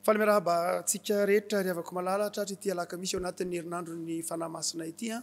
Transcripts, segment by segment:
Falemirahaba antsika rehetra ry havako malala, tratra ity alakamisy ao anatin'ny herinandron'ny Fanahy Masina ity an!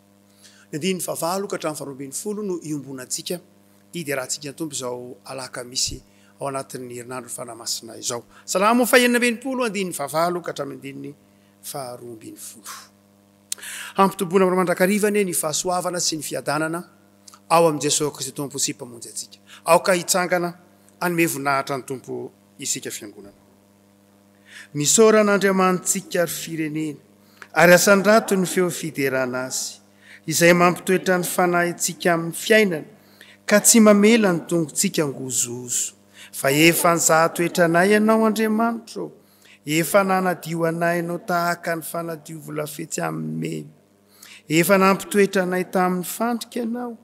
Ny andininy fahavalo ka hatramin'ny faharoa ambin'ny folo no iombonantsika hiderahantsika ny Tompo izao alakamisy ao anatin'ny herinandron'ny Fanahy Masina izao. Salamo fahenina amby enimpolo, andininy fahavalo ka hatramin'ny andininy faharoa ambin'ny folo. Hampitoboina aminao mandrakariva anie ny fahasoavana sy ny fiadanana ao amin'i Jesoa Kristy Tompo sy Mpamonjy antsika. Aoka hitsangana hanome voninahitra ny Tompo isika Fiangonana. Misaora an'Andriamanitsika ry firenena, ary asandrato ny feo fiderana Azy, izay mampitoetra ny fanahintsika amin'ny fiainana, ka tsy mamela ny tongotsika hangozohozo. Fa efa nizaha toetra anay Ianao, Andriamanitra ô, efa nanadio anay Ianao tahaka ny fanadio volafetsy amin'ny mena. Efa nampitoetra anay tamin'ny fandrika Ianao,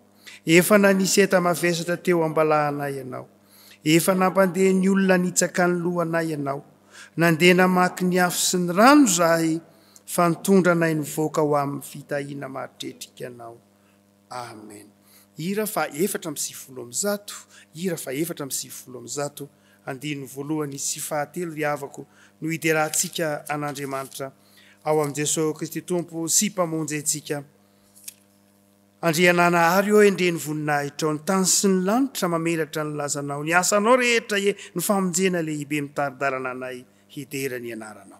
efa nanisy enta-mavesatra teo am-balahanay Ianao. Efa nampandeha ny olona nitsaka ny lohanay ianao. Nandeha namaky ny afo sy ny rano izahay, fa nitondra anay nivoaka ho amin'ny fitahiana mahatretrika anao. Amen. Hira faha efatra amby sivifolo amby zato Hira faha efatra amby sivifolo amby zato Andininy voalohany sy fahatelo Ry havako, no hiderantsika an'Andriamanitra, Ao amin'i Jesoa Kristy Tompo sy Mpamonjy antsika, Andriananahary ô endrey ny voninahitrao ny tany sy ny lanitra mamelatra ny lazanao ny asanao rehetra e ny famonjena lehibe mitari-dalana anay hidera ny anaranao.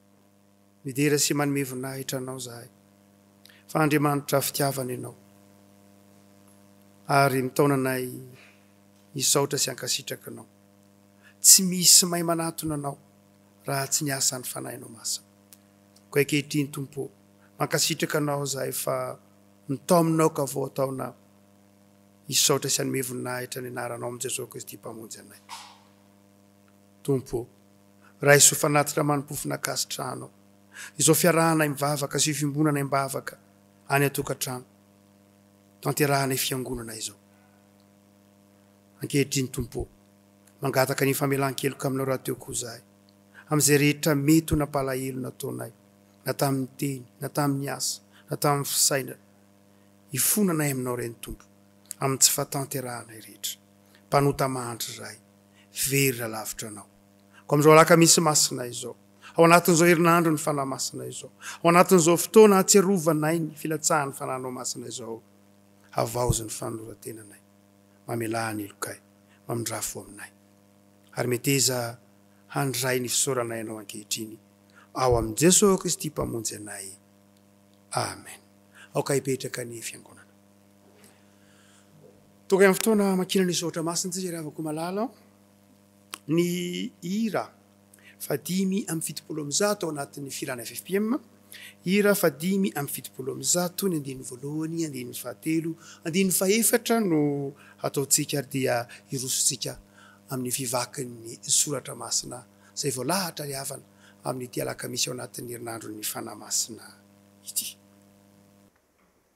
Midera sy manome voninahitra Anao izahay, fa Andriamanitra fitiavana Ianao, ary mitaona anay hisaotra sy hankasitraka Anao. Tsy misy may manatona Anao raha tsy ny asan'ny Fanahinao Masina. Koa ankehitriny, Tompo ô, mankasitraka Anao izahay fa mitaomina aoka vao ataonay hisaotra sy hanome voninahitra ny Anaranao amin'ny Jesoa Kristy Mpamonjy anay. Tompo ô, raiso fanatitra mani-pofona ankasitrahanao izao fiarahanay mivavaka sy io fiombonanay am-bavaka any an-tokantrano tanterahanay fiangonana izao. Ankehitriny Tompo ô, mangataka ny famelan-keloka aminao rahateo koa izahay amin'izay rehetra mety ho nampalahelo nataonay na tamin'ny teny na tamin'ny asa na tamin'ny fisainana. Hifona anay aminao Reny Tompo amin'ny tsy fahatanterahanay rehetra. mpanota mahantra izahay, very lalavitra Anao. Koa amin'izao alakamisy masina izao, ao anatin'izao herinandro ny Fanahy Masina izao, ao anatin'izao fotoana hatsiarovanay ny filatsahan'ny Fanahinao Masina izao, havaozy ny fanoloran-tenanay, mamelà ny helokay, mamindrà fo aminay. Ary meteza handray ny fisaoranay Anao ankehitriny, ao amin'i Jesoa Kristy Mpamonjy anay. Amen. Aoka hipetraka ny Fiangonana. Tonga amin'ny fotoana hamakiana ny soratra masina isika ry havako malala. Ny hira fahadimy amby fitopolo amby zato ao anatin'ny filana ffpm, hira fahadimy amby fitopolo amby zato ny andininy voalohany, andininy fahatelo, andininy fahefatra no hataontsika ary dia hirosontsika amin'ny fivakin'ny soratra masina izay voalahatra ry havana amin'ity alakamisy ao anatin'ny herinandron'ny fanahy masina ity.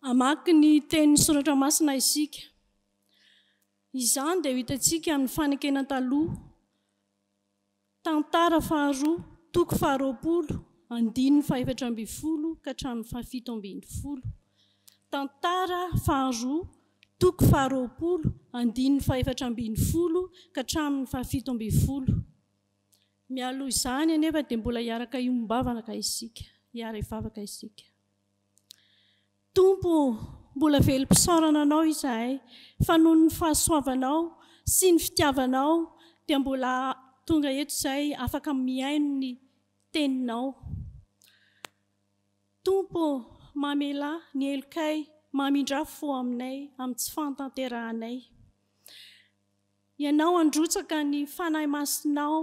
Hamaky ny tenin'ny Soratra Masina isika. Izany dia ho hitantsika amin'ny fanekena taloha, Tantara faharoa, toko faharoapolo, andininy fahefatra ambin'ny folo ka hatramin'ny fahafito ambin'ny folo. Tantara faharoa, toko faharoapolo, andininy fahefatra ambin'ny folo ka hatramin'ny fahafito ambin'ny folo. Mialoha izany anefa dia mbola hiaraka hiombavana isika, hiara-hivavaka isika. Tompo ô, mbola velom-pisaorana Anao izahay fa noho ny fahasoavanao sy ny fitiavanao dia mbola tonga eto izay afaka mihaino ny Teninao. Tompo ô, mamelà ny helokay, mamindrà fo aminay amin'ny tsy fahatanterahanay. Ianao handrotsaka ny Fanahy Masinao.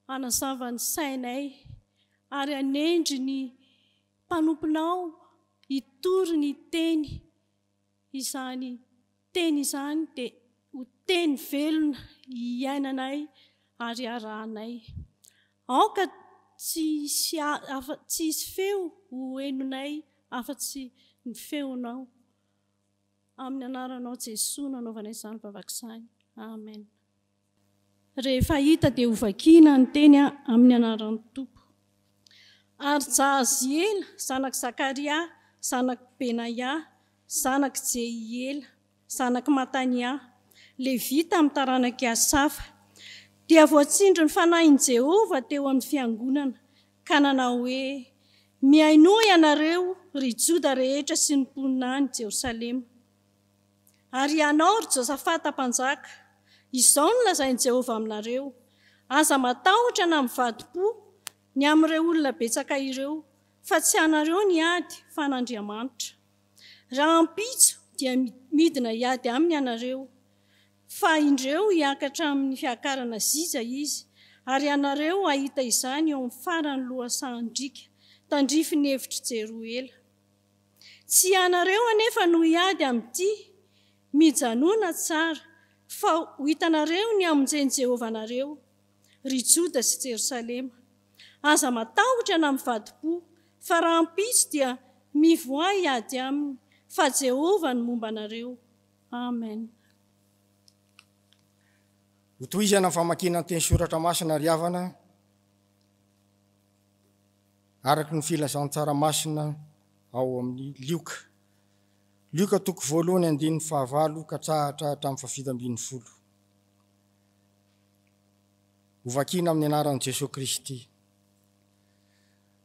Hanazava ny sainay ary hanendry ny mpanomponao hitory ny Teny. Izany Teny izany dia ho Teny velona iainanay ary iarahanay. Aoka tsy hisy afa, tsy hisy feo ho henonay afa-tsy ny Feonao. Amin'ny Anaranao Jesoa no anaovanay izany vavaka izany. Amen. Rehefa hita dia hovakina ny teny amin'ny anaran'ny Tompo. Ary Jahaziela zanak'i Zakaria zanak'i Benaia zanak'i Jehiela zanak'i Matania, Levita amin'ny taranak'i Asafa, dia voatsindrin'ny Fanahin'i Jehovah teo amin'ny fiangonana, ka nanao hoe, Mihainoa ianareo, ry Joda rehetra sy ny mponina any Jerosalema. Ary ianao, ry Josafata mpanjaka, izao no lazain'i Jehovah aminareo, Aza matahotra na mivadi-po ny amin'ireo olona betsaka ireo, fa tsy anareo ny ady, fa an'Andriamanitra. Rahampitso dia midina hiady aminy ianareo, fa indreo hiakatra amin'ny fiakarana zija izy, ary ianareo hahita izany eo amin'ny faran'ny lohasahan-driaka tandrifin'ny efitr'i Jeroela. Tsy ianareo anefa no hiady amin'ity. Mijanòna tsara, fa ho hitanareo ny hamonjen'i Jehovah anareo, ry Joda sy Jerosalema. Aza matahotra na mivadi-po, fa rahampitso dia mivoaha hiady aminy, fa Jehovah no momba anareo. Amen. Hotohizana ny famakiana ny Teny Soratra Masina ry havana. araka ny filazan-tsara masina ao amin'ny Lioka. Lioka toko voalohany andininy fahavalo katsahatra hatramin'ny fahafito ambin'ny folo. Hovakina amin'ny anaran'i Jesoa Kristy.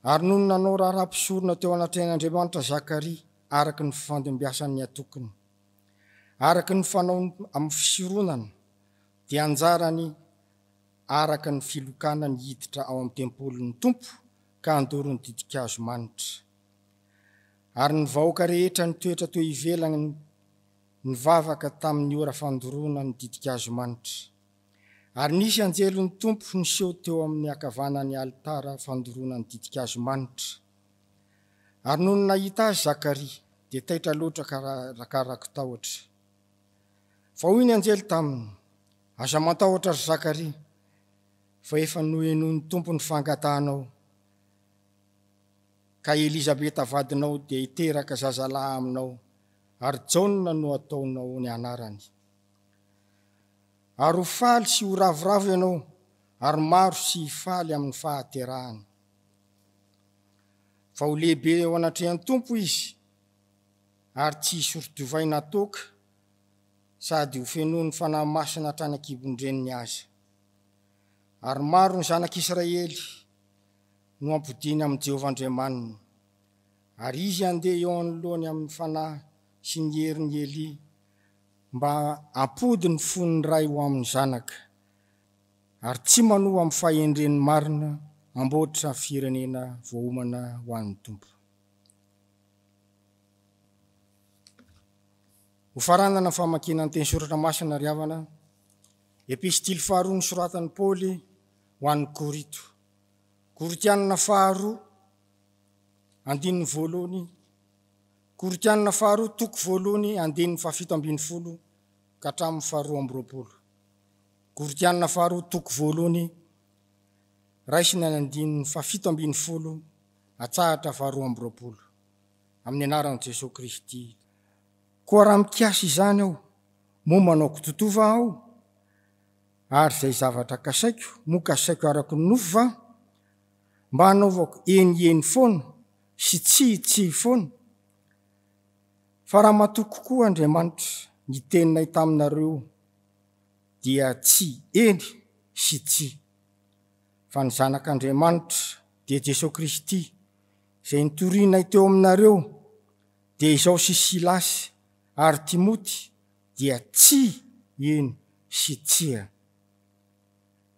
Ary nony nanao raharaha mpisorona teo anatrehan'Andriamanitra Zakaria araka ny fifandimbiasan'ny atokiny, araka ny fanaony amin'ny fisoronana, dia anjarany araka ny filokana ny hiditra ao amin'ny tempolin'ny Tompo ka handoro ny ditin-kazo manitra. Ary ny vahoaka rehetra nitoetra teo ivelany nivavaka tamin'ny ora fandoroana ny ditin-kazo manitra. Ary nisy anjelin'ny Tompo niseho teo amin'ny ankavanan'ny alitara fandoroana ny ditin-kazo manitra. Ary nony nahita azy Zakaria, dia taitra loatra ka rakarako tahotra. Fa hoy ny anjely taminy, Aza matahotra ry Zakaria, fa efa nohenoin'ny Tompo ny fangatahanao, ka i Elizabeta vadinao dia hiteraka zazalahy aminao, ary Jaona no hataonao ny anarany. Ary ho faly sy ho ravoravo ianao, ary maro sy hifaly amin'ny fahaterahany. Fa ho lehibe eo anatrehan'ny Tompo izy, ary tsy hisori-divay na toaka, sady hofenoin'ny Fanahy Masina hatrany an-kibon-dreniny aza. Ary maro ny zanak'Israely no ampodiany amin'i Jehovah Andriamaniny, ary izy handeha eo anoloany amin'ny fanahy sy ny herin'i Elia mba hampody ny fon'ny ray ho amin'ny zanaka, ary tsy manoa amin'ny fahendreny marina hamboatra firenena voaomana ho an'ny Tompo. Ho faranana ny famakiana ny teny soratra masina ry havana, epistily faharoa nosoratan'i Paoly ho an'ny Korito, Korotianina faharoa, andininy voalohany, Korotianina faharoa, toko voalohany, andininy fahafito ambin'ny folo ka hatramin'ny faharoa amby roapolo, Korotianina faharoa, toko voalohany, raisiny any andininy fahafito ambin'ny folo atsahatra faharoa amby roapolo, amin'ny anaran'i Jesoa Kristy. Koa raha mikasa izany aho, moa manao kitotoa va aho? Ary izay zavatra kasaiko, moa kasaiko araka ny nofo va? Mba hanaovako eny eny foana sy tsia tsia foana? Fa raha matoa kokoa Andriamanitra ny teninay taminareo, dia tsy eny sy tsia. Fa ny Zanak' Andriamanitra, dia Jesoa Kristy, izay nitorianay teo aminareo, Dia izao sy Silasy ary Timoty dia tsia, eny, sy tsia.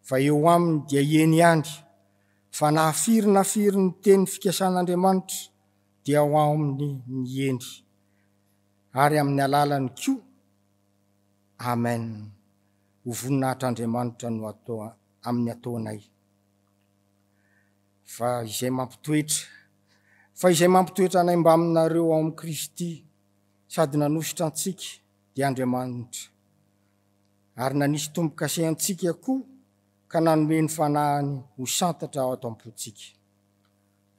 Fa eo aminy dia eny ihany, fa na firy na firy ny teny fikasan'Andriamanitra dia ao aminy ny eny, ary amin'ny alalany koa. Amen. Ho voninahitr'Andriamanitra no atao amin'ny ataonay. Fa izay mampitoetra. Fa izay mampitoetra anay mbaminareo ao amin'i Kristy sady nanosotra antsika dia Andriamanitra, ary nanisy tombo-kase antsika koa ka nanome ny Fanahiny ho santatra ato am-pontsika.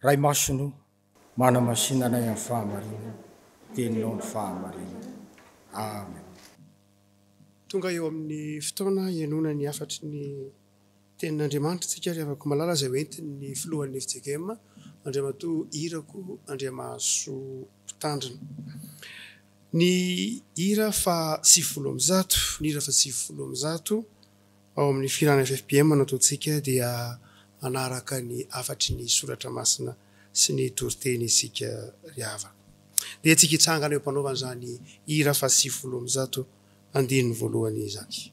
Ray Masina o! Manamasina anay amin'ny fahamarina, teninao ny fahamarina. Amen. Tonga eo amin'ny fotoana hihainoana ny hafatry ny Tenin'Andriamanitra isika ry havako malala izay hoentin'ny Filohan'ny FJKM, Andriamatoa Irako Andriamahasoa Mpitandrina. Ny hira faha sivifolo amby zato, ny hira faha sivifolo amby zato. Ao amin'ny filàna FFPM nataontsika dia manaraka ny hafatry ny soratra masina sy ny toriteny isika ry havana. Dia antsika hitsangana eo am-panaovana izany hira fahasivifolo amby zato andininy voalohany izany.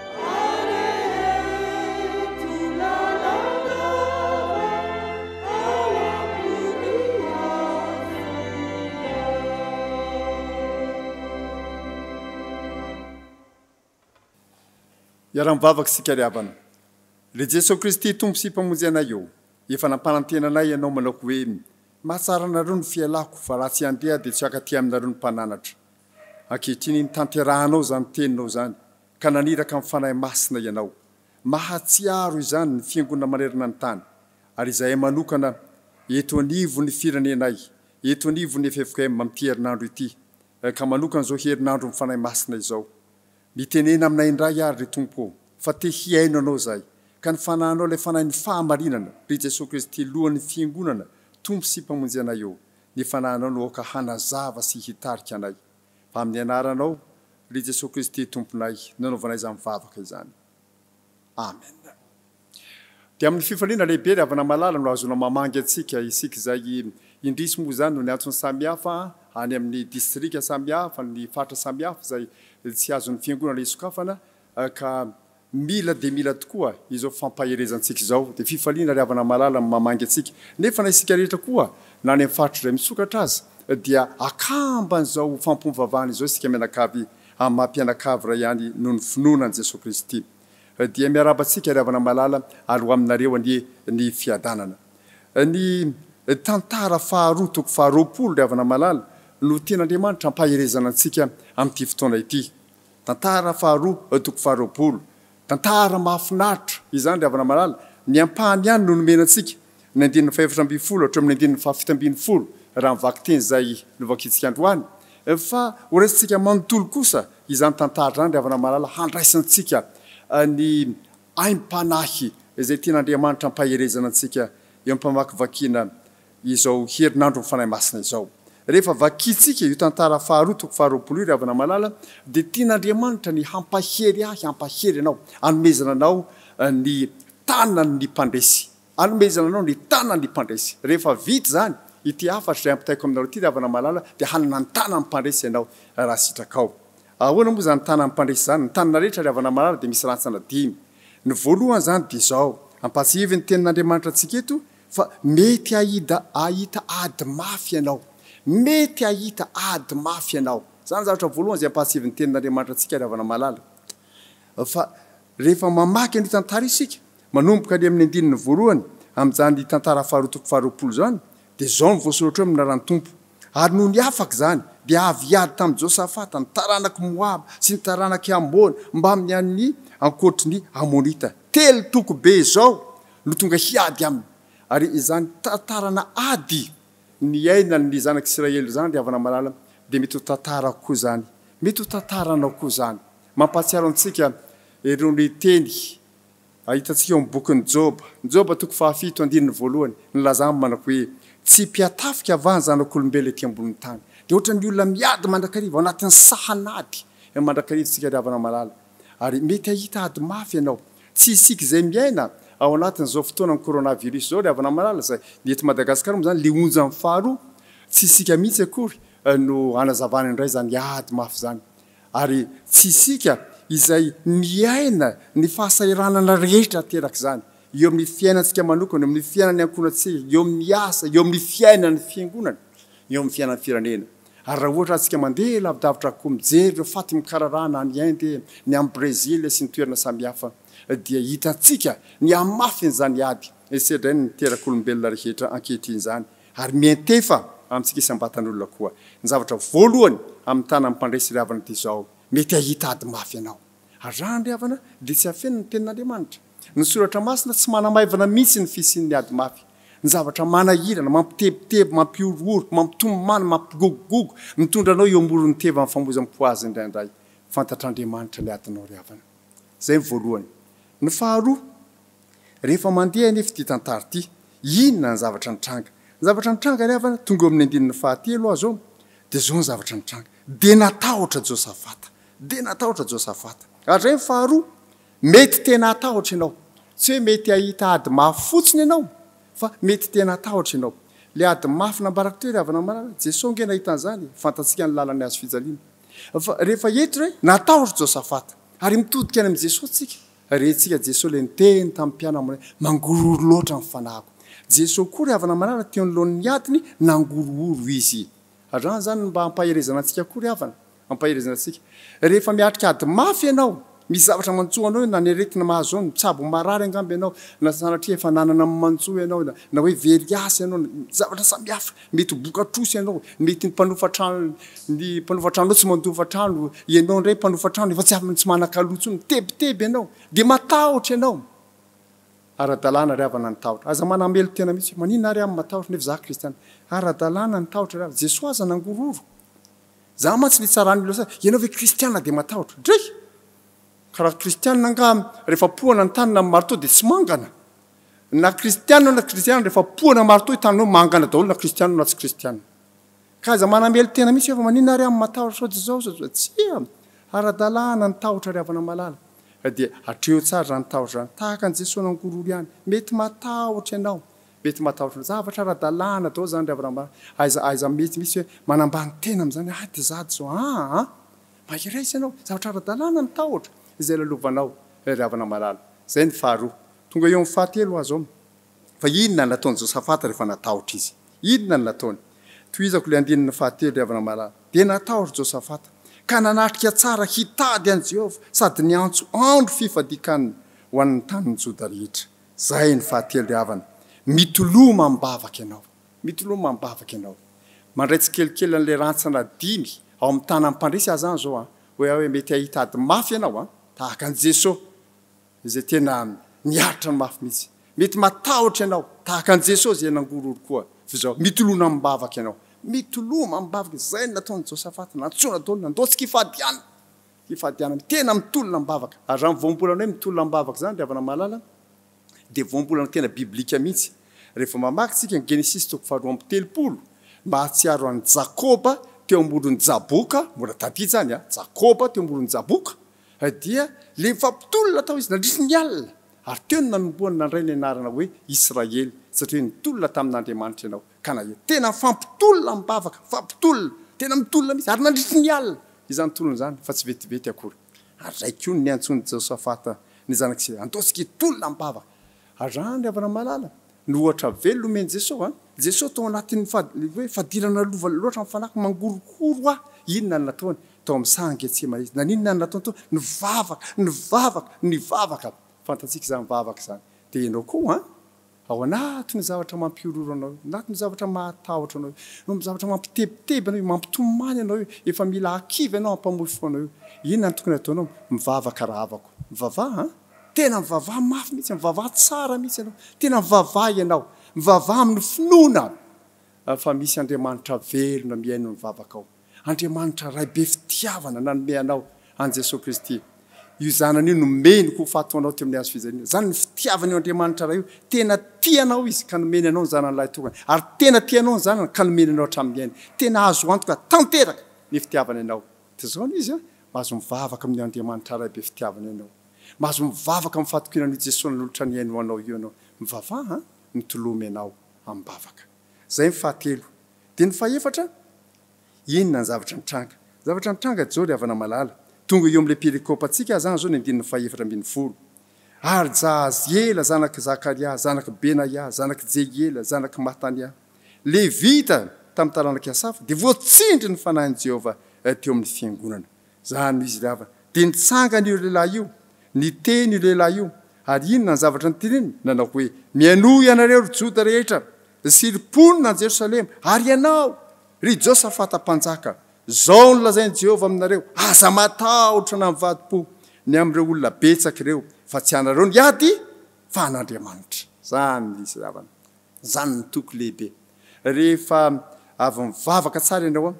Iaraha-mivavaka isika ry havana. Ry Jesoa Kristy Tompo sy Mpamonjy anay ô, efa nampanantena anay Ianao manao hoe, Mahatsara anareo ny fialako, fa raha tsy handeha aho dia tsy hiakaty aminareo ny mpananatra. Ankehitriny, tanterahanao izany Teninao izany. ka naniraka amin'ny Fanahy Masina ianao. Mahatsiaro izany ny Fiangonana manerana ny tany, ary izahay manokana eto anivon'ny firenenay, eto anivon'ny ffkm amin'ity herinandro ity, ka manokana izao herinandron'ny Fanahy Masina izao. Mitenena aminay indray àry ry Tompo ô, fa te hihaino Anao izahay, ka ny Fanahinao, ilay Fanahin'ny fahamarinana, ry Jesoa Kristy, Lohan'ny Fiangonana, Tompo sy Mpamonjy anay ô, ny Fanahinao no aoka hanazava sy hitarika anay. Amin'ny Anaranao, ry Jesoa Kristy Tomponay, no anaovanay izany vavaka izany. Amen. Dia amin'ny fifaliana lehibe ry havana malala no ahazoana mamangy antsika, isika izay indrisy moa izany noho ny antony samihafa, any amin'ny distrika samihafa, ny faritra samihafa izay tsy azon'ny Fiangonana hisokafana, ka Mila dia mila tokoa izao fampaherezantsika izao, dia fifaliana ry havana malala no mamangy antsika, nefa na isika rehetra koa na any amin'ny faritra izay misokatra aza dia akamban'izao fampiombivavahana izao isika mianakavy amin'ny maha mpianakavy iray ihany noho ny finoana an'i Jesoa Kristy. Dia miarahaba antsika ry havana malala ary ho aminareo anie ny fiadanana. Ny tantara faharoa toko faharoapolo ry havana malala no tian'Andriamanitra hampaherezana antsika amin'ity fotoana ity. Tantara faharoa eo toko faharoapolo. Tantara mahafinaritra izany ry havana malala, ny ampahany ihany no nomena antsika, ny andininy fahefatra ambin'ny folo hatramin'ny andininy fahafito ambin'ny folo raha ny vakiteny izay novakintsika androany, fa horaisintsika manontolo kosa izany tantara izany ry havana malala handraisantsika ny aim-panahy izay tian'Andriamanitra hampaherezana antsika eo am-pamakivakiana izao herinandron'ny Fanahy Masina izao. Rehefa vakintsika io tantara faharoa toko faharoapolo io ry havana malala dia tian'Andriamanitra ny hampahery ahy hampahery anao, anomezana anao ny tanan'ny mpandresy, anomezana anao ny tanan'ny mpandresy. Rehefa vita izany ity hafatra izay ampitaiko aminareo ity ry havana malala dia hanana ny tanan'ny mpandresy ianao raha sitrakao. Ahoana moa izany ny tanan'ny mpandresy izany? Ny tanana rehetra ry havana malala dia misy rantsana dimy. Ny voalohany izany dia izao, ampatsiahivy ny tenin'Andriamanitra antsika eto, Fa mety hahita hahita ady mafy ianao. Mety hahita ady mafy ianao. Izany zavatra voalohany izay ampahatsiavin'ny Tenin'Andriamanitra antsika ry havana malala. Fa rehefa mamaky an'io tantara io isika, manomboka any amin'ny andininy voalohany, amin'izany tantara faharoa toko faharoapolo izany, dia izao no voasoratra hoe Minaraha ny Tompo. Ary noho ny afaka izany, dia avy hiady tamin'i Josafata ny taranak'i Moaba sy ny taranak'i Amona mbamin'ny an'ny ankoatry ny Amonita. Telo toko be izao no tonga hiady aminy, ary izany tantarana ady niainan' ny Zanak' Isiraely izany, ry havana malala, dia mety ho tantarako koa izany, mety ho tantaranao koa izany. Mampahatsiaro antsika irony teny hitantsika eo amin'ny bokin'i Jôba, Jôba toko fahafito andininy voalohany, ny laza aminy manako hoe, Tsy mpihatafika va ny zanak' olombelona ety ambonin'ny tany? Dia hoatran'ny olona miady mandrakariva ao anatin'ny sahan'ady mandrakariva isika, ry havana malala. ary mety hahita ady mafy ianao. Tsy isika izay miaina ao anatin'izao fotoanan'ny coronavirus izao ry havana malala izay ny eto Madagasikara moa izany ilay onjan'ny faharoa tsy isika mihitsy akory no hanazavana indray izany ady mafy izany ary tsy isika izay miaina ny fahasahiranana rehetra aterak'izany eo amin'ny fiainantsika manokana, eo amin'ny fiainan'ny ankohonantsika, eo amin'ny asa, eo amin'ny fiainan'ny fiangonana, eo amin'ny fiainan'ny firenena. Ary raha ohatra atsika mandeha lavidavitra koa mijery ireo faty mikararana any Inde, ny any Brezila sy ny toerana samihafa dia hitantsika ny hamafin'izany ady sedrainy niterak'olombelona rehetra ankehitriny izany ary miantefa amintsika isam-batan'olona koa. Ny zavatra voalohany amin'ny tanan'ny mpandresy ry havana dia izao, mety hahita ady mafy ianao. Ary raha handre havana dia tsy afenina ny Tenin'Andriamanitra. Ny Soratra Masina tsy manamaivana mihitsy ny fisian'ny ady mafy. Ny zavatra manahirana, mampitebiteby, mampihorohoro, mampitomany, mampigogogogo, mitondra anao eo amoron'ny tevan'ny famoizam-po azy indraindray. Fantatr'Andriamanitra ny adinao ry havana. Izay ny voalohany. Ny faharoa, rehefa mandeha anefa ity tantara ity, inona ny zavatra nitranga? Ny zavatra nitranga ry havana, tonga eo amin'ny andininy fahatelo aho izao, dia izao ny zavatra nitranga, dia natahotra Josafata. Dia natahotra Josafata. Hatramin'izay ny faharoa, mety tena hatahotra ianao. Tsy hoe mety hahita ady mafy fotsiny ianao, fa mety tena hatahotra ianao. Ilay ady mafy nambarako teo, ry havana marina, Jesoa ange nahita an'izany e! Fantatsika ny lalan'ny hazo fijaliana. Fa rehefa eto re, natahotra Josafata. Ary mitodika any amin'i Jesoa tsika. Rentsika Jesoa ilay niteny tamin'ny mpianany hoe, Mangorohoro loatra ny fanahiko. Jesoa koa, ry havana marina, teo anoloan'ny adiny, nangorohoro Izy. Raha izany mba ampaherezana antsika koa ry havana, ampaherezana antsika. Rehefa miatrika ady mafy ianao, misy zavatra mantsoa anao na ny aretina mahazo anao, mitsabo marary angamba ianao, na sanatria efa nanana ny mantsoa ianao, na hoe very asa ianao, zavatra samihafa, mety ho boka trosa ianao, mety ny mpanofa trano, ny mpanofa tranonao tsy mandofa trano, ianao indray mpanofa trano efa tsy manan-kaloha intsony, mitebiteby ianao, dia matahotra ianao. Ara-dalàna ry havana ny tahotra. Aza manamelo-tena mihitsy hoe, maninona ary aho no matahotra nefa izaho kristiana. Ara-dalàna ny tahotra ry havana. Jesoa aza nangororo. Izaho mantsy nitsaran'ny olona sasany, ianao ve kristiana dia matahotra? Dray! Ka raha kristiana angaha rehefa poana ny tanana amin'ny marteau dia tsy mangana? Na kristiana na tsy kristiana rehefa poana marteau ny tananao mangana daholo na kristiana na tsy kristiana. Ka aza manamely tena mihitsy hoe fa maninona ary aho matahotra sao tsy zao sao tsy zao. Tsia! Ara-dalàna ny tahotra ry havana malala. Ka dia atreho tsara izany tahotra izany. Tahaka an'i Jesoa nangororo ihany. Mety matahotra ianao. Mety matahotra. Zavatra ara-dalàna daholo izany ry havana malala. Aiza, aiza mety mihitsy hoe manambany tena amin'izany ah dia za zao ah an! Mahereza ianao. Zavatra ara-dalàna ny tahotra izay lalovanao ry havana malala. Izay ny faharoa. Tonga eo amin'ny fahatelo aho zao. Fa inona no nataon'i Josafata rehefa natahotra izy? Inona no nataony? Tohizako ilay andininy fahatelo, ry havana malala. Dia natahotra Josafata, ka nanatrika tsara hitady an'i Jehovah sady niantso andro fifadian-kanina ho an'ny tanin'i Joda rehetra. Izay ny fahatelo, ry havana. Mitoloma am-bavaka ianao. Mitoloma am-bavaka ianao. Mandray tsikelikely an'ilay rantsana dimy ao amin'ny tanan'ny mpandresy aza izany izao. Hoe aho hoe mety hahita ady mafy ianao, tahaka an'i Jesosy. Izay tena miaritra ny mafy mihitsy. Mety matahotra ianao, tahaka an'i Jesosy izay nangororo koa. Fa izao, mitolona amim-bavaka ianao. Mitoloma amim-bavaka. Izay no nataon'i Josafata. Nantsoina daholo, nandao tsy kifadiana. Kifadiana mihitsy. Tena mitolona amim-bavaka. Ary izany voambolana hoe mitolona amim-bavaka izany, ry havana mahalala, dia voambolana tena biblika mihitsy. Rehefa mamaky isika ny Genesisy toko faharoa amby telopolo, mahatsiaro an'i Jakoba teo amboron'i Jaboka, mbola tadidy izany an, Jakoba teo amboron'i Jaboka, Dia lehifa mpitolona tao izy nandritry ny alina, ary teo no nanombohany nandray ny anarana hoe Israely, satria nitolona tamin' Andriamanitra ianao, ka na dia tena fampitolona amim-bavaka, fampitolona, tena mitolona mihitsy, ary nandritry ny alina izany tolona izany, fa tsy vetivety akory. Ary izay koa no niantsoan' i Jeosafata ny zanak' Isay, Andeho isika hitolona amim-bavaka, ary raha an-dry havana malala, Ny ohatra velona omen'i Jeso an! Jeso tao anatin'ny hoe fadirana lova loatra ny fanahiko, mangorohoro aho. Inona no nataony? Tao amin'ny saha Getsemane izy. Naninona no nataony tao? Nivavaka, nivavaka, nivavaka. Fantatsika izany mivavaka izany. Dia ianao koa an! Ao anatin'ny zavatra mampihorohoro anao io, anatin'ny zavatra mahatahotra anao io, eo amin'ny zavatra mampitebiteby anao io, mampitomany anao io, efa mila hakivy ianao hampamofy fo anao io, inona no tokony hataonao? Mivavaka rahavako. Mivavaha an! Tena mivavaha mafy mihitsy, mivavaha tsara mihitsy ianao. Tena mivavaha ianao. Mivavaha amin'ny finoana fa misy Andriamanitra velona mihaino ny vavakao. Andriamanitra Ray be fitiavana nanome anao an'i Jesoa Kristy. Io Zanany io nomeny ho faty ho anao teo amin'ny hazo fijaliana. Izany ny fitiavan'io Andriamanitra Ray io. Tena tia anao Izy ka nomeny anao ny Zanany Lahitokana. Ary tena tia anao ny Zanany ka nomeny anao hatramin'ny ainy. Tena azo antoka tanteraka ny fitiavany anao. Dia zao no izy an, mba azo mivavaka amin' Andriamanitra Ray be fitiavana ianao. Mba azo mivavaka amin' ny fahatokiana an' i Jesoa nanolotra ny ainy ho anao io ianao. Mivavaha an, mitoloma ianao amin' bavaka. Zay ny fahatelo. Dia ny fahefatra, inona ny zavatra nitranga? Ny zavatra nitranga Jao ry havana malala, tonga eo amin' ilay perikopa antsika aza an zao ny andininy fahefatra ambin' ny folo, Ary Jahaziela zanak' i Zakaria, zanak' i Benaia, zanak' i Jehiela, zanak' i Matania, Levita tamin'ny taranak'i Asafa dia voatsindry ny fanahin'i Jehovah teo amin'ny fiangonana. Zany noho izy ilay havana. Dia nitsangana io lehilahy io, niteny io lehilahy io, ary inona ny zavatra noteneniny? Nanao hoe, Mihainoa ianareo, ry Joda rehetra, sy ry mponina any Jerosalema, ary ianao, ry Josafata mpanjaka, izao no lazain'i Jehovah aminareo, Aza matahotra na mivadi-po ny amin'ireo olona betsaka ireo, fa tsy ianareo no hiady, fa an'Andriamanitra. Zany noho izy ilay havana. Izany no toky lehibe. Rehefa avy mivavaka tsara ianao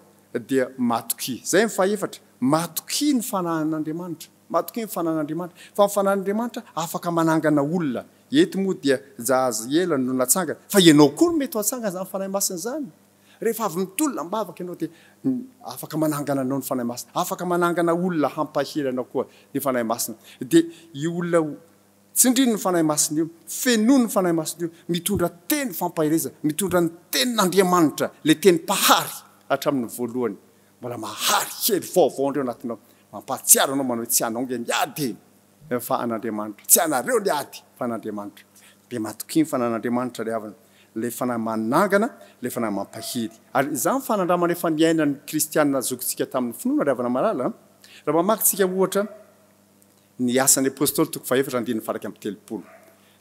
dia matokia. Izay ny fahefatra, matokia ny fanahin'Andriamanitra. Matokia ny fanahin'Andriamanitra. Fa ny fanahin'Andriamanitra afaka manangana olona. Eto moa dia Jahaziela no natsangana. Fa ianao koa no mety ho hatsangana izany Fanahy Masina izany. Rehefa avy mitolona am-bavaka ianao dia afaka manangana anao ny Fanahy Masina. Afaka manangana olona hampahery anao koa ny Fanahy Masina. Dia io olona Tsindrino ny Fanahy Masina io, fenoy ny Fanahy Masina io, mitondra teny fampaherezana, mitondra ny tenin'Andriamanitra, ilay teny mpahary hatramin'ny voalohany, mbola mahary, hery vaovao indray ao anatinao, mampahatsiaro anao manao hoe tsy anao ange ny ady e, fa an'Andriamanitra, tsy anareo ny ady fa an'Andriamanitra, dia matokia ny Fanan'Andriamanitra ry havana, ilay Fanahy manangana, ilay Fanahy mampahery. Ary izany fanandramana efa niainan'ny kristiana zokintsika tamin'ny finoana ry havana malala, raha mamaky tsika ohatra, Ny Asan' ny Apôstôly toko fahaefatra andininy faha iraika amby telopolo.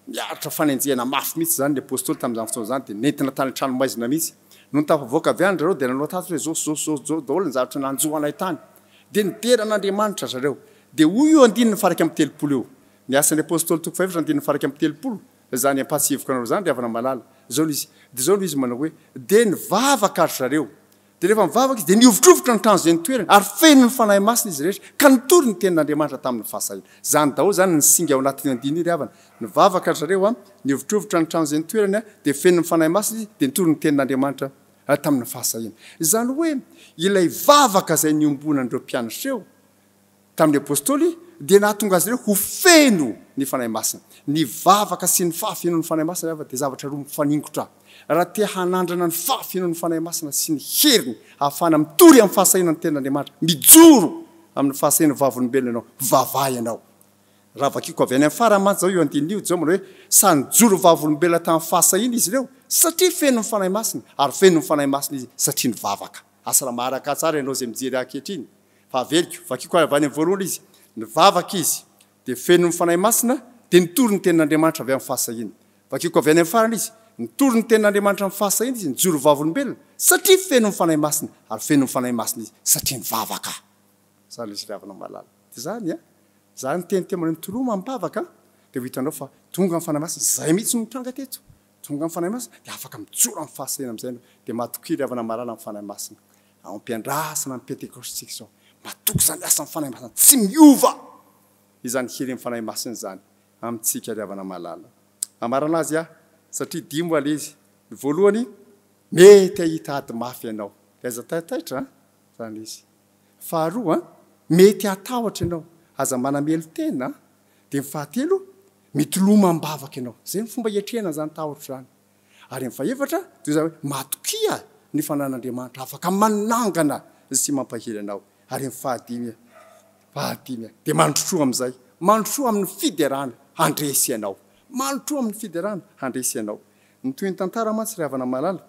Niaritra fanenjehana mafy mihitsy izany ny Apôstôly tamin' izany fotoana izany dia nentina tany an-tranomaizina mihitsy. Nony tafavoaka avy any ry zareo dia nanao tatitra hoe zao sy zao sy zao zao daholo ny zavatra nanjo anay tany. Dia nidera an' Andriamanitra ry zareo. Dia hoy io andininy faha iraika amby telopolo io, Ny Asan' ny Apôstôly toko fahaefatra andininy faha iraika amby telopolo, Izany ampahatsiahiviko anareo izany ry havana malala. Izao no izy, dia izao no izy manao hoe, Dia nivavaka ry zareo. Dia rehefa nivavaka izy, dia nihovitrovitra ny trano izay nitoerany, ary feno ny Fanahy Masina izy rehetra, ka nitory ny tenin'Andriamanitra tamin'ny fahasahiana. Izany daholo izany ny singa ao anatin'io andininy io, ry havana. Nivavaka ry zareo, nihovitrovitra ny trano izay nitoerany, dia feno ny Fanahy Masina izy, dia nitory ny tenin'Andriamanitra tamin'ny fahasahiana. Izany hoe, ilay vavaka izay niombonan'ireo mpianatra eo, tamin'ny Apostoly dia nahatonga azy ireo ho feno ny Fanahy Masina. Ny vavaka sy ny fahafenoan'ny Fanahy Masina, ry havana, dia zavatra roa mifaningotra. Raha te hanandrana ny fahafenoan'ny Fanahy Masina sy ny heriny ahafahana mitory amin'ny fahasahiana ny Tenin'Andriamanitra, mijoro amin'ny fahasahiana vavolombelona ianao, vavaha ianao. Raha vakiko avy any amin'ny farany mantsy izao io andininy io, Jehovah manao hoe, Sady nijoro vavolombelona tamin'ny fahasahiana izy ireo, satria feno ny Fanahy Masina, ary feno ny Fanahy Masina izy satria nivavaka. Asa raha maharaka ahy tsara ianao izay mijery ahy ankehitriny, Fa averiko, vakiko avy any amin'ny voalohany izy, Nivavaka izy, dia feno ny Fanahy Masina, dia nitory ny tenin'Andriamanitra avy amin'ny fahasahiana. Vakiko avy any amin'ny farany izy, Nitory ny tenin'Andriamanitra amin'ny fahasahiana izy, nijoro ho vavolombelona, satria feno ny Fanahy Masina, ary feno ny Fanahy Masina izy, satria nivavaka. Izany ilay finiavana malala. Dia izany an! Izany niteny teo ambany toroa mampivavaka an! Dia ho hitanao fa tonga ny Fanahy Masina, izay mihitsy no mitranga teto. Tonga ny Fanahy Masina, dia afaka mijoro amin'ny fahasahiana amin'izay ianao. Dia matokia ilay havana malala amin'ny Fanahy Masina. Ao am-piandrasana ny Pentekostentsika izao, matoky izany asan'ny Fanahy Masina tsy miova izany herin'ny Fanahy Masina izany amintsika ry havana malala. Hamarana azy aho satria dimy ho alaizy. Ny voalohany, mety hahita ady mafy ianao. Dia aza taitaitra an! Izany izy. Faharoa, mety hatahotra ianao. Aza manamelo-tena. Dia ny fahatelo, mety lomam-bavaka ianao. Izay ny fomba hiatrehana izany tahotra izany. Ary ny fahefatra, toy izany hoe matokia ny fananan'Andriamanitra afaka manangana sy mampahery anao. Ary ny fahadimy, fahadimy, dia mandrosoa amin'izay, mandrosoa amin'ny fiderana handresy anao, mandrosoa amin'ny fiderana handresy anao. Ny tohin'ny tantara mantsy, ry havana malala,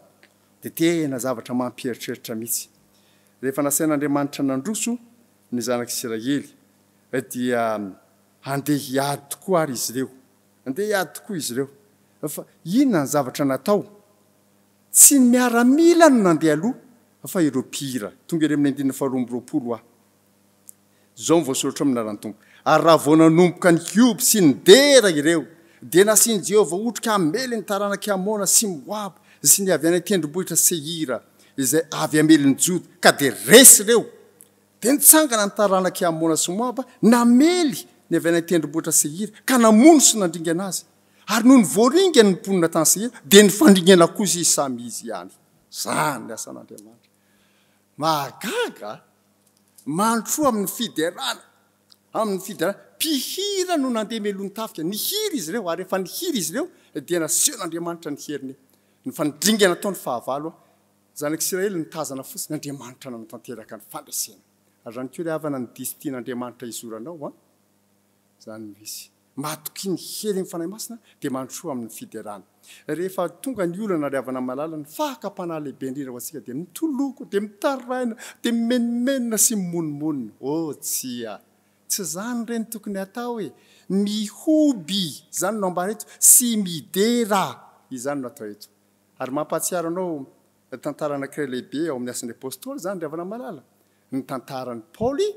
dia tena zavatra mampieritreritra mihitsy. Rehefa nasain'Andriamanitra nandroso ny zanak'Isiraely, dia handeha hiady tokoa àry izy ireo. Andeha hiady tokoa izy ireo. Fa inona ny zavatra natao? Tsy ny miaramila no nandeha aloha fa ireo mpihira. Tonga ery amin'ny andininy faharoa amby roapolo aho. Izao no voasoratra ao amin'ny anaran'ny Tompo, Ary raha vao nanomboka nihioby sy nidera ireo, dia nasian'i Jehovah otrika hamely ny taranak'i Amona sy Moaba sy ny avy any an-tendrombohitra Seira, izay avy hamelon'i Joda, ka dia resy ireo. Dia nitsangana ny taranak'i Amona sy Moaba, namely ny avy any an-tendrombohitra Seira, ka namono sy nandringana azy. Ary nony voaringany ny mponina tany Seira, dia nifandringana kosa izy samy izy ihany. Izany ny asan'Andriamanitra. Mahagaga! Mandrosoa amin'ny fiderana, amin'ny fiderana. Mpihira no nandeha melohin'ny tafika. Nihiry izy ireo, ary rehefa nihiry izy ireo, dia nasehon'Andriamanitra ny heriny. Ny fandringana tao ny fahavalo, Zanak'Isiraely nitazana fotsiny Andriamanitra nanatanteraka ny fandresena. Ary ihany koa ry havana ny diso tian'Andriamanitra hizoranao an! Izany no izy. Matokia ny herin'ny Fanahy Masina dia mandrosoa amin'ny fiderana. Rehefa tonga ny olana ry havana malala ny fakam-panahy lehibe indrindra ho antsika dia mitoloko, dia mitaraina, dia mimenomenona sy mimonomonona. Oh tsia! Tsy izany re no tokony hatao e! Mihoby, izany no ambara eto, sy midera, izany no atao eto. Ary mampahatsiaro anao ny tantaran'Akrela Lehibe ao amin'ny Asan'ny Apostoly izany, ry havana malala, ny tantaran'i Paoly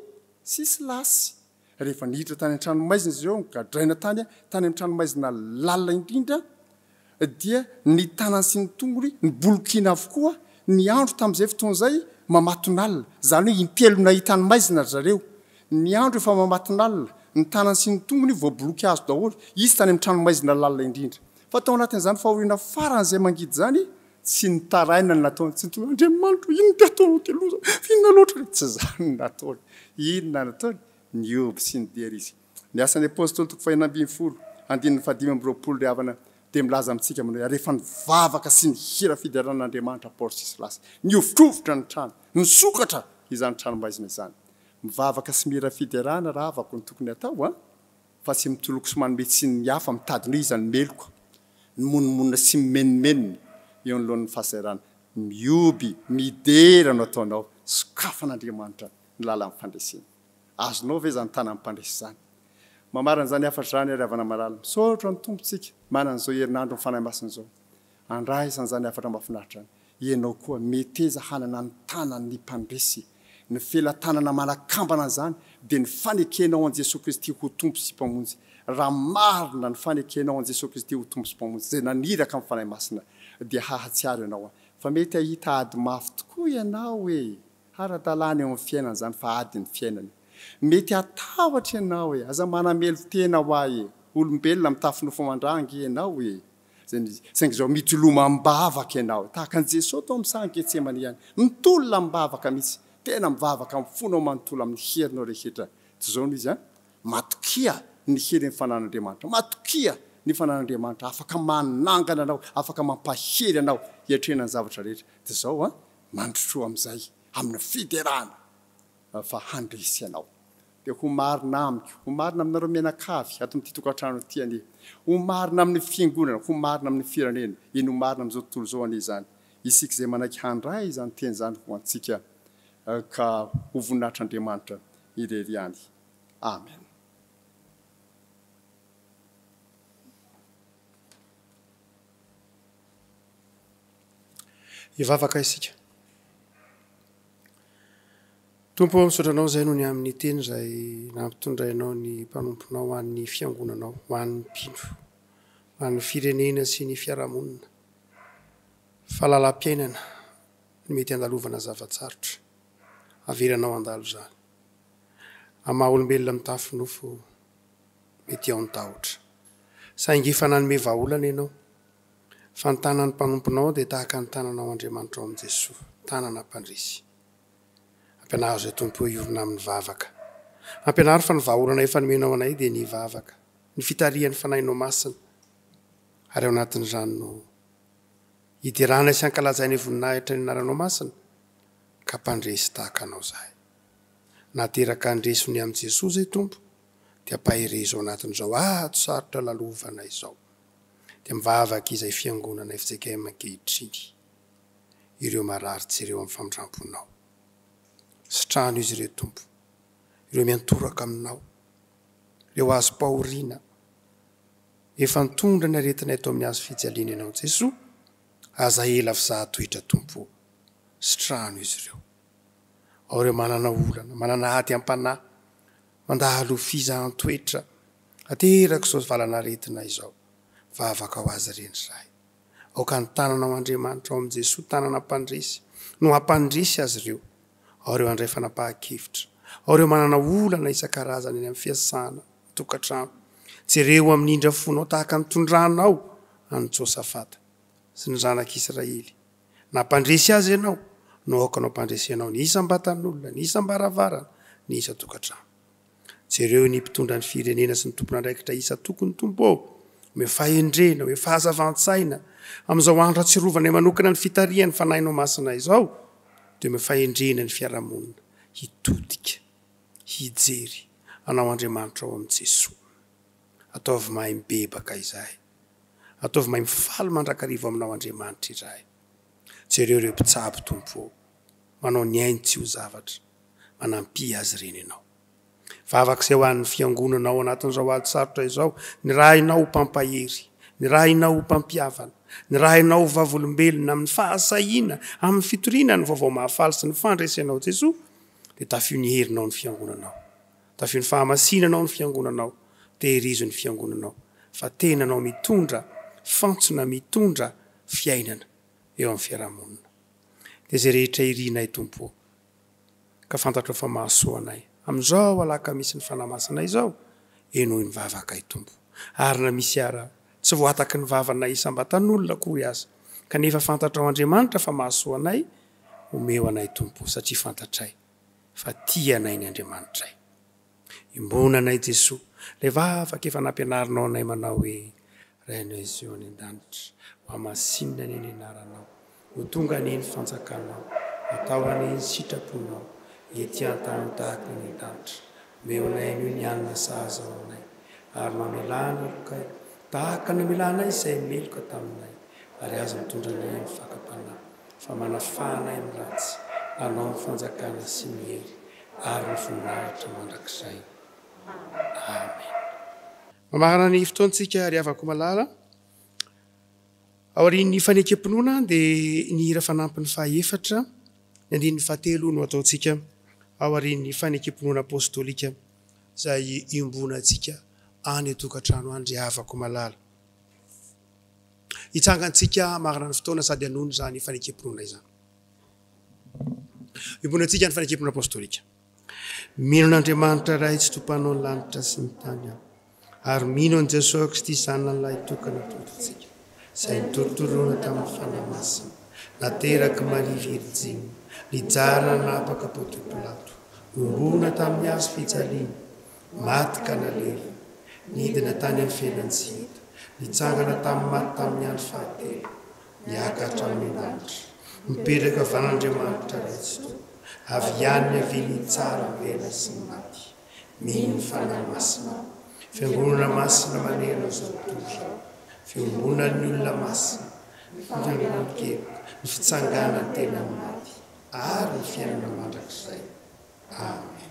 sy Silasy, rehefa niditra tany an-tranomaizina izy ireo, nogadraina tany, tany amin'ny tranomaizina lalina indrindra, dia ny tanany sy ny tongony nibolokiana avokoa, niandro tamin'izay fotoana izay mamatonalina, izany hoe impelo nahita ny maizina ry zareo, niandro efa mamatonalina, ny tanany sy ny tongony voaboloky hazo daholo, izy tany amin'ny tranomaizina lalina indrindra. Fa tao anatin'izany fahoriana farany izay mangidy izany, tsy nitaraina ny nataony, tsy niteny hoe, Andriamanitro ô, inona ty ataonao ty loza, inona loatra ilay. Tsy izany no nataony. Inona no nataony? Nihoby sy nidera izy. Ny Asan'ny Apostoly, toko faheno ambin'ny folo, andininy fahadimy amby roapolo, ry havana, dia milaza amintsika manao hoe, Ary rehefa nivavaka sy nihira fiderana an'Andriamanitra Paoly sy Silasy, nihovitrovitra ny trano, nisokatra izany tranomaizina izany. Mivavaka sy mihira fiderana rahavako no tokony hatao an! fa tsy mitoloko sy manome tsiny ny hafa, mitady ny hoe iza no meloka, ny monomonona sy mimenomenona eo anoloan'ny fahasahiranana. Mioby, midera no ataonao, sokafan'Andriamanitra ny lalan'ny fandresena. Azonao ve izany tanan'ny mpandresy izany? Mamarana izany hafatra izany ary Havana Malala. Misaotra ny Tompontsika manana izao herinandron'ny Fanahy Masina izao. Andraisan zany hafatra mafinaritra any. Ianao koa meteza hanana ny tanan ny mpandresy. Ny felatanana manakambana an'izany dia ny fanekenao an'i Jesoa Kristy ho Tompo sy Mpamonjy. Raha marina ny fanekenao an'i Jesoa Kristy ho Tompo sy Mpamonjy izay naniraka amin'ny Fanahy Masina dia hahatsiaro ianao an. Fa mety hahita ady mafy tokoa ianao e! Ara-dalàna eo amin'ny fiainana izany fa ady ny fiainana. Mety hatahotra ianao e! Aza manamelo tena hoa e! Olombelona mitafy nofo aman-dra ange ianao e! Saingy izao mitoloma am-bavaka ianao, tahaka an'i Jesoa tao amin'ny sahan'i Getsemane ihany. Mitolona am-bavaka mihitsy. Tena mivavaka amin'ny fonao manontolo amin'ny herinao rehetra. Tsy izao no izy an? Matokia ny herin'ny fananan'Andriamanitra. Matokia ny fananan'Andriamanitra afaka manangana anao, afaka mampahery anao hiatrehana ny zavatra rehetra. Dia izao an, mandrosoa amin'izay, amin'ny fiderana. fa handresy ianao. Dia ho marina amiko, ho marina aminareo mianakavy ato amin'ity tokantrano ity anie, ho marina amin'ny Fiangonana, ho marina amin'ny firenena, eny ho marina amin'izao tontolo izao anie izany, isika izay manaiky handray izany teny izany ho antsika ka ho voninahitr'Andriamanitra irery ihany. Amen. Hivavaka isika. Tompo ô, misaotra Anao izay noho ny amin'ny Teny izay nampitondrainao ny mpanomponao ho an'ny Fiangonanao, ho an'ny mpino, ho an'ny firenena sy ny fiarahamonina, fa lalam-piainana no mety handalovana zava-tsarotra. Avelanao handalo izany. Amin'ny maha-olombelona mitafy nofo, mety ao ny tahotra. Saingy efa nanome vahaolana Ianao. Fa ny tanan'ny mpanomponao dia tahaka ny tananao Andriamanitrao amin'i Jesoa, tanana mpandresy. Ampianaro izay Tompo eo hiorina amin'ny vavaka. Ampianaro fa ny vahaolana efa nomenao anay dia ny vavaka, ny fitarihan'ny Fanahinao Masina, ary ao anatin'izany no hideranay sy hankalazainay voninahitra ny Anaranao Masina, ka mpandresy tahaka Anao izahay. Na teraka handresy ho ny amin'i Jesoa izay Tompo, dia ampaherezo ao anatin'izao ady sarotra lalovanay izao. dia mivavaka izay fiangonana fjkm ankehitriny ireo marary jereo amin'ny famindramponao. Sitrano izy ireo Tompo, ireo miantoraka aminao, ireo azom-pahoriana efa nitondra ny aretina eto amin'ny hazo fijaliana ianao Jesoa, aza ela fizaha toetra Tompo o, sitrano izy ireo. Ao ireo manana olana, manana ady am-panahy, Mandalo fizahan-toetra ateraka izao valan'aretina izao. Vavaka ho azy ireny izahay. Aoka ny tananao Andriamanitra ao amin'i Jesoa tanana mpandresy no hampandresy azy ireo. Ao ireo handray fanapahan-kevitra. Ao ireo manana olana isan-karazany any amin'ny fiasana, an-tokantrano. Jereo amin'ny indra fonao tahaka ny tondranao an'i Josafata sy ny zanak'Israely. Na mpandresy azy ianao, no aokanao mpandresy anao ny isam-batan'olona, ny isam-baravarana, ny isan-tokantrano. Jereo ny mpitondra ny firenena sy ny tompon'andraikitra isan-tokony Tompo ô! Omeo fahendrena, omeo fahazavan-tsaina amin'izao andro atsirovanay manokana ny fitarihan'ny Fanahinao Masina izao, dia omeo fahendrena ny fiarahamonina hitodika, hijery Anao Andriamanitra ao amin'i Jesoa. Ataovy mahay mibebaka izahay. Ataovy maimbo faly mandrakariva aminao Andriamanitra izahay. Jereo ireo mpitsabo, Tompo ô. Manao ny ainy tsy ho zavatra. Manampia azy ireny Ianao. Vavaka izay ho an'ny Fiangonana ao anatin'izao ady sarotra izao. Nirahinao ho mpampahery. Nirahinao ho mpampihavana. Nirahinao ho vavolombelona amin'ny fahasahiana, amin'ny fitoriana ny Vaovao Mahafaly sy ny fandresenao Jesoa, dia tafio ny herinao ny Fiangonanao. Tavio ny fahamasinanao ny fiangonanao, tehirizo ny fiangonanao fa tenanao mitondra fantsona mitondra fiainana eo amin'ny fiarahamonina. Dia izay rehetra irinay Tompo o! ka fantatrao fa mahasoa anay amin'izao alakamisy ny Fanahy Masina izao, henoy ny vavakay Tompo ary na misy ara tsy voataky ny vavanay isam-batan'olona akory aza kanefa fantatrao Andriamanitra fa mahasoa anay, omeo anay Tompo o! satria fantatray. fa tia anay ny Andriamanitray. Iombona anay Jesoa, ilay vavaka efa nampianarinao anay manao hoe, Ray anay Zio any an-danitra, hohamasinina anie ny anaranao, ho tonga anie ny fanjakanao, atao anie ny sitraponao, ety an-tany tahaka eny an-danitra. Meonay an'io ny hanina sahaza ho anay, ary mamelà ny lokay, tahaka ny namelà anay izay meloka taminay, ary aza mitondra anay amin'ny fakam-panahy, fa manafaha anay amin'ny ratsy, mpanao ny fanjakana sy ny hery ary ny voninahitra mandrakizay. Amena. Mamarana ny fotoantsika ry havako malala. Aorian'ny fanekem-pinoana dia ny hira fanampiny fahaefatra, ny andininy fahatelo no ataontsika aorian'ny fanekem-pinoana apostolika izay iombonantsika any an-tokantrano any ry havako malala. Hitsangantsika marina ny fotoana sady hanono izany fanekem-pinoana izany. Iombonantsika ny fanekem-pinoana apostolika. Mino an'Andriamanitra Ray sy Tompanao ny lanitra sy ny tany aho, ary mino an'i Jesoa Kristy Zanany Lahitokana Tompontsika, izay nitorotoroana tamin'ny Fanahy Masina, nateraky Maria Virjiny, nijanona nanapaka Pontio Pilato, nohorona tamin'ny hazo fijaliana, maty ka nalery, nidina tany amin'ny fiainan-tsy hita, nitsangana tamin'ny maty tamin'ny andro fahatelo, miakatra amin'ny lanitra, mipetraka van'Andriamanitra Ray Tsitoha, avy ihany niavian'ny Tsara velona sy ny maty. Mino ny Fanahy Masina, Fiangonana Masina manerana izao tontolo izao, fiombonan'ny olona masina, ny fananganam-pikeloka, ny fitsanganan-tena amin'ny maty, ary ny fiainana mandrakizay. Amen.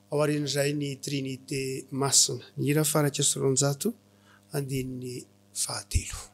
Ao aorian'izay ny Trinite Masina. Ny hira faraika sy roanjato, andininy fahatelo.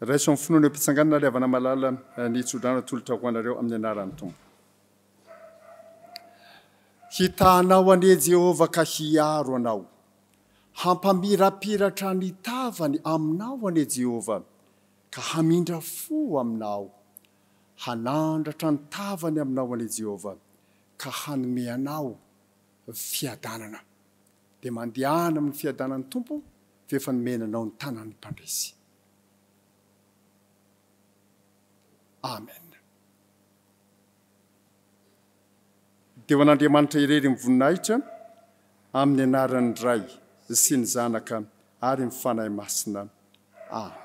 Raiso amin'ny finoana eo am-pitsanganana ry havana malala ny tsodrano atolotra ho anareo amin'ny anaran'ny Tompo. Hitahanao anie Jehovah ka hiaro anao. Hampamirapiratra ny tavany aminao anie Jehovah ka hamindra fo aminao. Hanandratra ny tavany aminao anie Jehovah ka hanome anao fiadanana. Dia mandehana amin'ny fiadanan'ny Tompo, fa efa nomena anao ny tanan'ny mpandresy. Amen. Deo an'Andriamanitra irery ny voninahitra amin'ny anaran'ny Ray sy ny Zanaka ary ny Fanahy Masina. Amen.